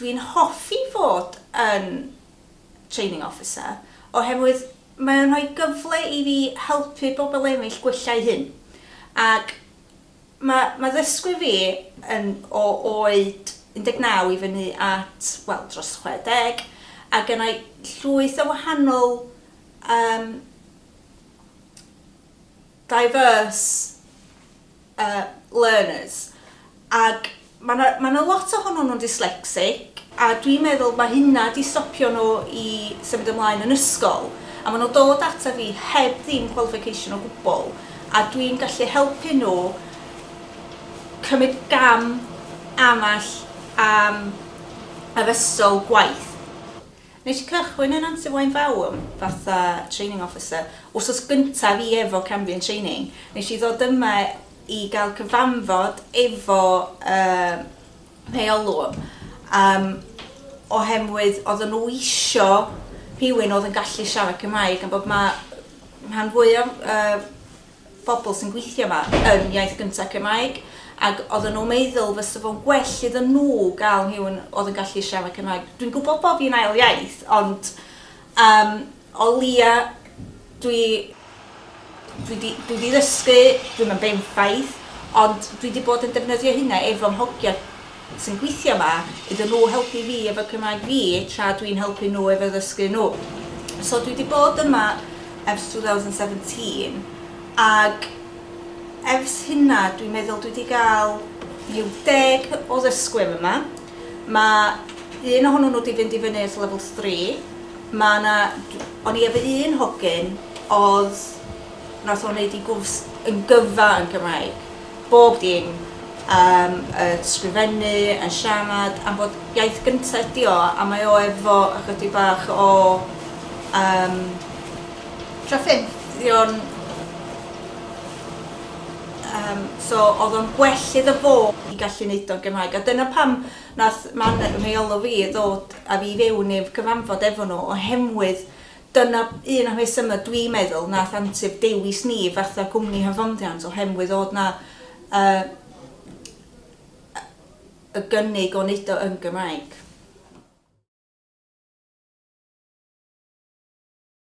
Dwi'n hoffi fod yn Training Officer oherwydd mae o'n rhoi gyfle i fi helpu pobl eraill gwella'u hun. Ac ma' ma' ddysgwyr fi yn o oed 19 i fyny at, wel, dros 60, a gennai llwyth o wahanol yym diverse er learners ac ma' 'na ma' 'na lot ohonyn nhw'n dyslexic a dwi'n meddwl ma' hynna 'di stopio nhw i symud ymlaen yn ysgol a ma' nhw'n dod ata fi heb ddim qualification o gwbl a dwi'n gallu helpu nhw cymryd gam amell am addysgol gwaith. Nes i cychwyn yn Antiwaun Fawm fatha training officer, wsos gynta fi efo Cambian Training, nes i ddod yma i gael cyfanfod efo yy rheolwr yym ohemwydd odden nhw isio rhywun oedd yn gallu siarad Cymraeg am bod ma' rhan fwya yy bobl sy'n gweithio yma yn iaith gynta Cymraeg ac oedden nhw'n meddwl fysa fo'n gwell iddyn nhw gael rhywun oedd yn gallu siarad Cymraeg. Dwi'n gwybod bod fi'n ail iaith ond um, o lia dwi dwi di, dwi di ddysgu, dwi'n yn benffaith, ond dwi di bod yn defnyddio hynna efo'n hogia sy'n gweithio yma iddyn nhw helpu fi efo Cymraeg fi tra dwi'n helpu nhw efo ddysgu nhw. So dwi 'di bod yma ers 2017 ag ers hynna dwi'n meddwl dwi 'di gael rhyw deg o ddysgwyr yma. Mae un ohonyn nhw 'di fynd i fyny at level three. Mae yna... o'n i efo un hogyn oedd... wnaeth o wneud ei gwrs yn gyfa yn Gymraeg. Bob dim. Yym y sgrifennu, yn siarad am fod iaith gynta ydi o a mae o efo ychydig bach o yym trafferthion yym so o'dd o'n gwell iddo fo i gallu neud o'n Gymraeg a dyna pam nath man rheolo fi ddod a fi i fewn i'r cyfanfod efo nhw oherwydd Dyna un o rhesymau dwi'n meddwl nath Antur dewis ni fatha cwmni hyfforddiant ohemwydd o'dd 'na y y gynnig o neud o yn Gymraeg.